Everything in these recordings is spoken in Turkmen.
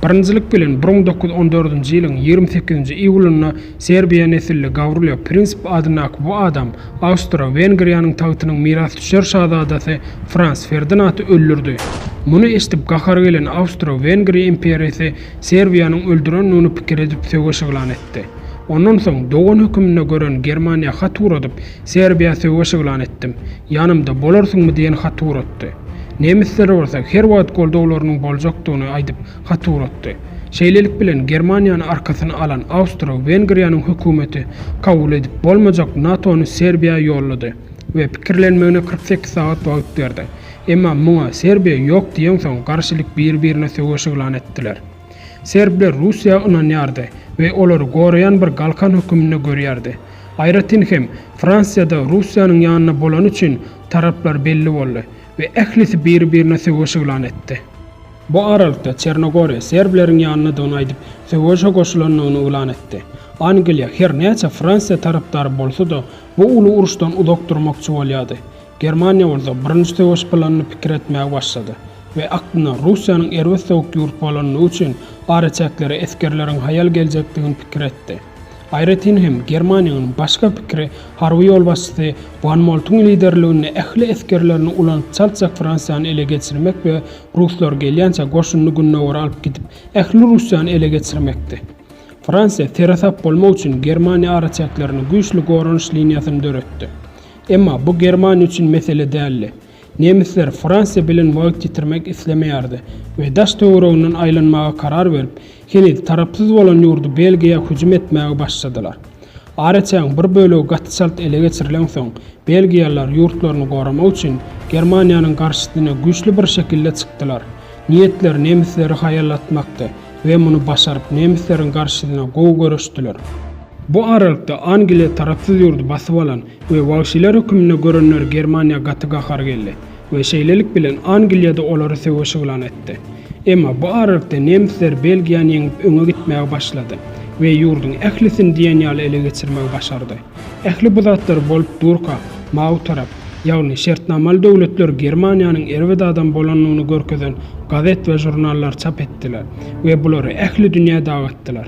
Birinjilik bilen, Brun dokuz ýüz on dördünji ýylyň ýigrimi sekizinji iýulynda serbiýa nesilli Gawrylýo Prinsip adyndaky bu adam Awstro-Wengriýanyň tagtynyň mirasdüşer şazadasy Frans Ferdinaty öldürdi. Muny eşidip gahary gelen Awstro-Wengriýa imperiýasy Serbiýanyň öldürendigini pikir edip söweş yglan etdi. Ondan soň dogan höküminde gören Germaniýa hat ugradyp, Serbiýa söweş yglan etdim. Ýanymda bolarsyňmy diýen haty uratdy. Nemisler bolsa her wagt goldawlarynyň boljakdygyny aýdyp hat uratdy. Şeýlelik bilen Germaniýany arkasyna alan Awstro-Wengriýanyň hökümeti kabul edip bolmajak NATO-ny Serbiýa ýollady we pikirlenmegine kyrk sekiz sagat wagt berdi. Emma muňa Serbiýa ýok diýensoň garşylyk bir-birine söweş yglan etdiler. Serbler Russiýa ynanýardy we olary goraýan bir galkan höküminde görýärdi. Aýratyn hem, Fransiýada Russiýanyň ýanynda bolany üçin taraplar belli boldy we ählisi biri-birine söweş yglan etdi. Bu aralykda Çernogoriýa serbleriň ýanyndadygyny aýdyp, söweşe goşulandygyny yglan etdi. Angliýa her näçe Fransiýa tarapdary bolsa-da, bu uly uruşdan uzak durmakçy bolýardy. Germaniýa bolsa Birinji söweş planyny pikir etmäge başlady we aklynda Russiýanyň erbet sowuk ýurt bolandygy üçin araçäklere esgerleriň haýal geljekdigini pikir etdi. Aýratyn hem Germaniýanyň başga pikiri harby ýolbaşçysy Wan Moltuň liderliginde ähli esgerlerini ulanyp çaltjak Fransiýany ele geçirmek we ruslar gelýänçä goşunyny gündogara alyp gidip ähli Russiýany ele geçirmekdi. Fransiýa seresap bolmak üçin Germaniýa araçäklerine güýçli goranyş liniýasyny döretdi. Emma bu Germaniýa üçin mesele däldi. Nemisler Fransiýa bilen wagt ýitirmek islemeýärdi we daş-töwereginden aýlanmaga karar berip, heniz tarapsyz bolan ýurdy Belgiýa hüjüm etmäge başladylar. Areçägiň bir bölegi gaty çalt ele geçirilensoň, belgiýalylar ýurtlaryny goramak üçin Germaniýanyň garşysyna güýçli bir şekilde çykdylar. Niýetleri nemisleri haýallatmakdy we muny başaryp, nemisleriň garşysyna gowy göreşdiler. Bu aralykda Angliýa tarapsyz ýurdy basyp alan we wagşylar höküminde görenler Germaniýa gaty gahary geldi we şeýlelik bilen Angliýada olary söweş yglan etdi. Emma bu aralykda nemisler Belgiýany ýeňip öňe gitmäge başlady we ýurduň ählisini diýen ýaly ele geçirmegi başardy. Ähli bu zatlar bolup durka, mawy tarap, ýagny şertnamaly döwletler Germaniýanyň erbet adam bolandygyny görkezen gazet we žurnallar çap etdiler we bulary ähli dünýä dagatdylar.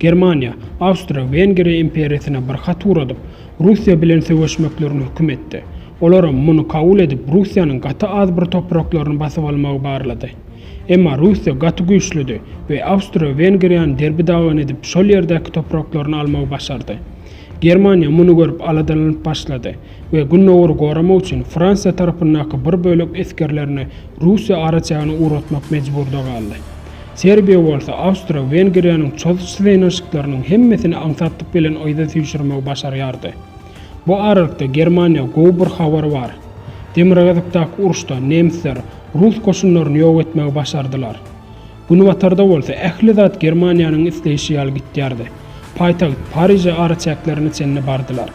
Germaniýa, Awstriýa-Wengriýa imperiýasyna bir hat ugradyp, Russiýa bilen söweşmeklerini höküm etdi. Olaram muny kabul edip, Russiýanyň gaty az bir topraklaryny basyp almagy barlady. Emma Russiýa gaty güýçlüdi we Awstriýa-Wengriýany derbi-dagyn edip, şol ýerdäki topraklaryny almagy başardy. Germaniýa muny görüp aladalanyp başlady we Gündogary goramak üçin Fransiýa tarapyndaky bir bölek esgerlerini Russiýa araçägine ugratmak mejburda galdy. Serbiýa bolsa Awstro-Wengriýanyň çozuş synanyşyklarynyň hemmesini aňsatlyk bilen yza süýşürmegi başarýardy. Bu aralykda Germaniýa gowy bir habar bar. Demirgazykdaky uruşda nemsler rus goşunlaryny ýok etmegi başardylar. Günbatarda bolsa ähli zat Germaniýanyň isleýşi ýaly gitýärdi. Paýtagt Pariže araçäklerine çenli bardylar.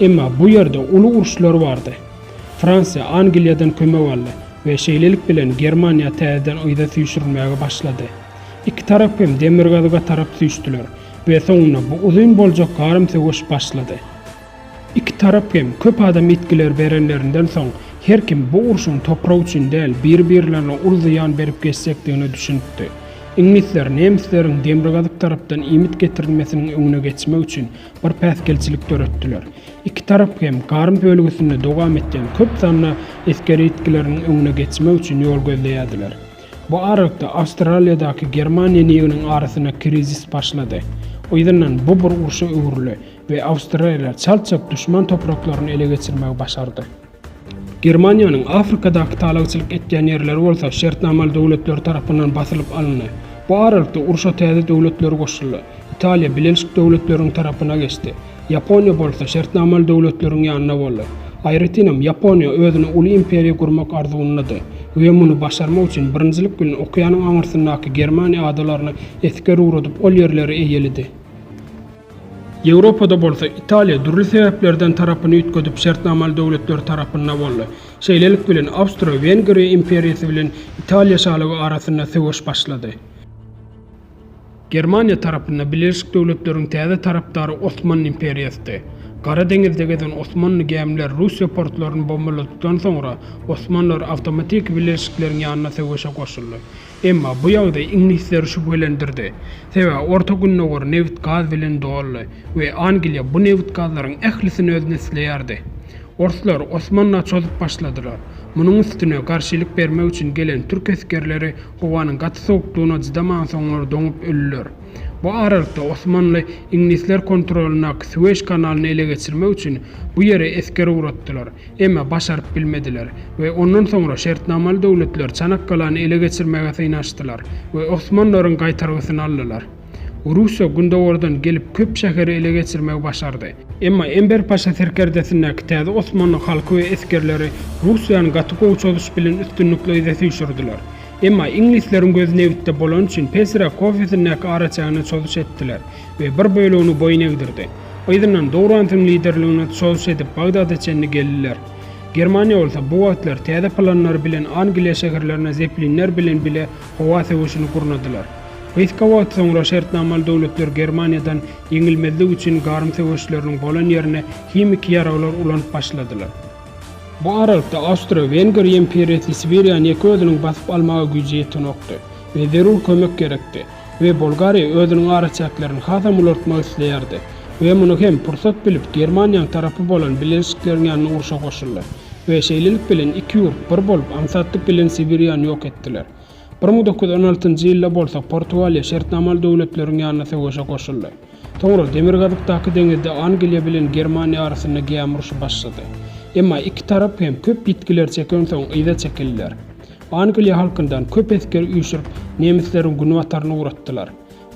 Emma bu ýerde uly uruşlar bardy. Fransiýa Angliýadan kömek aldy we şeýlelik bilen Germaniýa täzeden yza süýşürilmäge başlady. Iki tarap hem demirgazyga tarap süýşdüler we soňunda bu uzyn boljak garym söweş başlady. Iki tarap hem köp adam ýitgiler berenlerinden soň, her kim bu urşuň toprak üçin däl, bir-birlerine uly zyýan berip geçjekdigine düşünipdi. Iňlisler nemisleriň demirgazyk tarapdan iýmit getirilmesiniň öňüne geçmek üçin, bir päsgelçilik döretdiler. Iki tarap hem Garm bölgesinde dowam etýän köp sanly esger ýitgileriniň öňüne geçmek üçin ýol gözleýärdiler. Bu aralykda Awstraliýadaky Germaniýa niginiň arasynda krizis başlady. Yzyndan bu bir urşa öwrüldi we Awstraliýa çalt-çalt duşman topraklaryny ele geçirmegi başardy. Germaniýanyň Afrikadaky talaçylyk etýän ýerleri bolsa şertnamaly döwletler tarapyndan basylyp alyndy. Bu aralykda urşa täze döwletler goşuldy. Italiýa bilenşik döwletleriň tarapyna geçdi. Ýaponiýa bolsa şertnamaly döwletleriň ýanynda boldy. Aýratynam, Ýaponiýa özüne uly imperiýa gurmak arzuwynda-dy we muny başarmak üçin birinjilik bilen okeanyň aňyrsyndaky Germaniýa adalaryny esger ugradyp ol ýerleri eýeledi. Ýewropada bolsa, Italiýa dürli sebäplerden tarapyny üýtgedip şertnamaly döwletler tarapynda boldy. Şeýlelik bilen, Awstro-Wengriýa imperiýasy bilen Italiýa şalygy arasynda söweş başlady. Germaniýa tarapynda Birleşik Döwletleriň täze tarapdary Osmanly imperiýasydy. Gara deňizde gezen osmanly gämileri Russiýa portlaryny bombaladypdan soňra, osmanlar awtomatiki birleşikleriň ýanyna söweşe goşuldy. Emma bu ýagdaý iňlisleri şübhelendirdi, sebäbi Orta Gündogar nebit-gaz bilen doldy we Angliýa bu nebit-gazlaryň ählisini özüne isleýärdi. Orslar Osmana çozup başladylar. Munuň üstüne garşylyk bermek üçin gelen türk esgerleri howanyň gaty sowukdygyna çydaman soňlar doňup ölüler. Bu aralykda Osmanly iňlisler kontrolyndaky Suweş kanalyny ele geçirmek üçin bu ýere esger ugratdylar. Emma başaryp bilmediler we ondan soňra şertnamaly döwletler Çanakkalany ele geçirmäge synanyşdylar we osmanlaryň gaýtargysyny aldylar. Russiýa gündogardan gelip köp şäheri ele geçirmegi başardy. Emma Enber Paşa serkerdesindäki täze osmanly halky we esgerleri Russiýany gaty gowy çozuş bilen üstünlikle yza süýşürdiler. Emma iňlisleriň gözi nebitde bolany üçin Pesira kofesindäki araçägine çozuş etdiler we bir bölegini boýun egdirdi. Yzyndan Dourantyň liderligine çozuş edip Bagdada çenli geldiler. Germaniýa bolsa bu wagtlar täze planlary bilen Angliýa şäherlerine zeplinler bilen bile howa söweşini gurnadylar. Gysga wagt soňra şertnamaly döwletler Germaniýadan ýeňilmezlik üçin garym söweşleriniň bolan ýerine himiki ýaraglar ulanyp başladylar. Bu aralykda Awstro-Wenger imperiýasy Sibiriýany ýeke özüniň basyp almaga güýji ýetenokdy we zerur kömek gerekdi we Bolgariýa özüniň araçäklerini hasam ulaltmak isleýärdi we muny hem pursat bilip Germaniýaň tarapy bolan Biležikleriň ýanyna urşa goşuldy we şeýlelik bilen iki ýurt bir bolup aňsatlyk bilen Sibiriýany ýok etdiler. Bir müň dokuz ýüz on altynjy ýylda bolsa Portugaliýa şertnamaly döwletleriň ýanyna söweşe goşuldy. Soňra Demirgazykdaky deňizde Angliýa bilen Germaniýa arasynda gämi urşy başlady. Emma iki tarap hem köp ýitgiler çekensoň yza çekildiler. Angliýa halkyndan köp esger üýşürip nemisleriň günbataryna ugratdylar.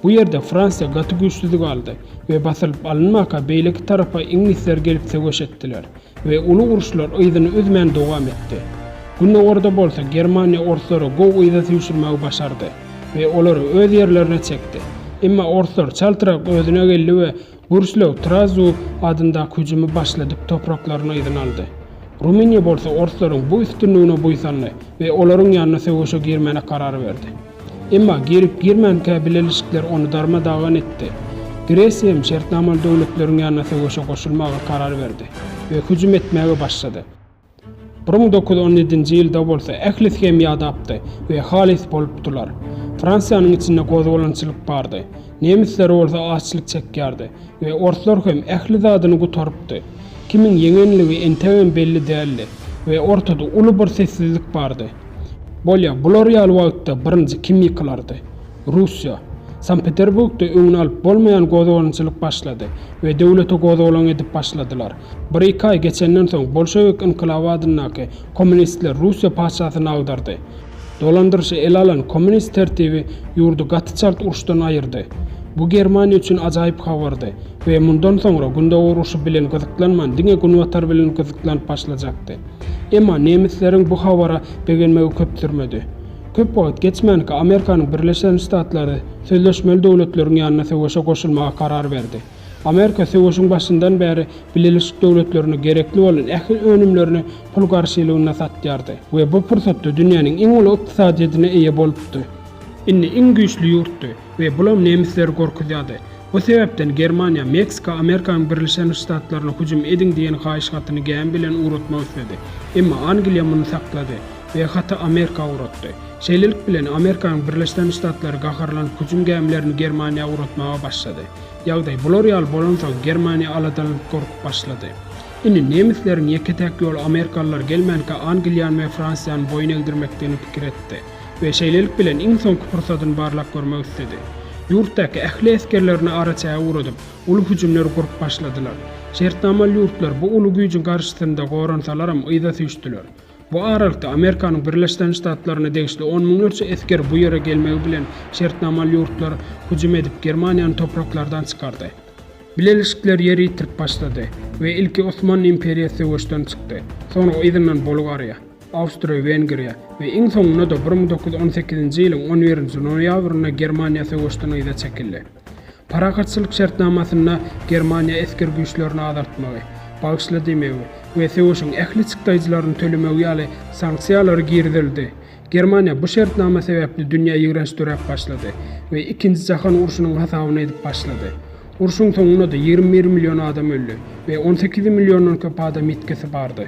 Bu ýerde Fransiýa gaty güýçsüzlik aldy we basylyp alynmaka beýleki tarapa iňlisler gelip söweş etdiler. we uly uruşlar yzyny üzmän dowam etdi. Gündogarda bolsa Germaniýa orslara gowy yza süýşürmegi başardy we olary öz ýerlerine çekdi. Emma orslar çaltrak özüne geldi we Gürslöw Trazu adyndaky hüjümi başladyp topraklaryny yzyna aldy. Rumyniýa bolsa orslaryň bu üstünligine buýsandy we olaryň ýanyna söweşe girmäne karar berdi. Emma girip-girmänkä bileleşikler ony darma-dagan etdi. Gresiýam şertnamaly döwletleriň ýanyna söweşe goşulmaga karar berdi we hüjüm etmäge başlady. Bir müň dokuz ýüz on ýedinji ýylda bolsa ählisi hem ýadapdy we halys bolupdylar. Fransiýanyň içinde gozgalaňçylyk bardy. Nemisler bolsa açlyk çekýärdi we orslar hem ähli zadyny gutarypdy. Kimiň ýeňenligi entegem belli däldi we ortada uly bir sessizlik bardy. Bolýa, bular ýaly wagtda birinji kim ýykylardy? Russiýa. Sankt-Peterburgda öňüni alyp bolmaýan gozgalaňçylyk başlady we döwlete gozgalaň edip başladylar. Bir-iki aý geçenden soň bolşewik ynkylaby adyndaky kommunistler Russiýa patyşasyny agdardy. Dolandyryşy ele alan kommunist tertibi ýurdy gaty çalt uruşdan aýyrdy. Bu Germaniýa üçin ajaýyp habardy we mundan soňra Gündogar urşy bilen gyzyklanman diňe Günbatar bilen gyzyklanyp başlajakdy. Emma nemisleriň bu habara begenmegi köp sürmedi. Köp wagt geçmänkä Amerikanyň Birleşen Ştatlary sözleşmeli döwletleriň ýanyna söweşe goşulmaga karar berdi. Amerika söweşiň başyndan bäri Bileleşik Döwletlerine gerekli bolan ähli önümlerini pul garşylygynda satýardy we bu pursatda dünýäniň iň uly ykdysadyýetine eýe bolupdy. Indi iň güýçli ýurtdy. We bulam nemisleri gorkuzýardy. Bu sebäpden Germaniýa, Meksika Amerikanyň Birlişen Ştatlaryna hüjüm ediň diýen haýyş hatyny gämi bilen ugratmak isledi. Emma Angliýa muny saklady we haty Amerika ugratdy. Şeýlelik bilen Amerikanyň Birleşen Ştatlary gaharlanyp hüjüm gämilerini Germaniýa ugratmaga başlady. Ýagdaý bular ýaly bolansoň Germaniýa aladalanyp gorkup başlady. Indi nemisleriň ýeke-täk ýoly Amerikalylar gelmänkä Angliýany we Fransiýany boýun egdirmekdigini pikir etdi. we şeýlelik bilen iň soňky pursadyny barlap görmek isledi. Ýurtdaky ähli esgerlerini araçäge ugradyp, uly hüjümler gurup başladylar. Şertnamaly ýurtlar bu uly güýjüň garşysynda goransalaram yza süýşdüler. Bu aralykda Amerikanyň Birleşden Ştatlaryna degişli on müňlerçe esger bu ýere gelmegi bilen şertnamaly ýurtlar hüjüm edip Germaniýany topraklardan çykardy. Bileleşikler ýer ýitirip başlady we ilki Osmanly imperiýasy söweşden çykdy, soňra yzyndan Bolgariýa. Awstriýa-Wengriýa we iň soňunda-da bir müň dokuz ýüz on sekizinji ýylyň on birinji noýabrynda Germaniýa söweşden yza çekildi. Parahatçylyk şertnamasynda Germaniýa esger güýçlerini azaltmagy, bagyşla diýmegi we söweşiň ähli çykdaýjylaryny tölemegi ýaly sanksiýalary girizildi. Germaniýa bu şertnama sebäpli dünýä ýigrenç döräp başlady we ikinji jahan urşunyň hasabyny edip başlady. Urşuň soňunda-da ýigrimi bir million adam öldi we on sekiz milliondan köp adam ýitgisi bardy.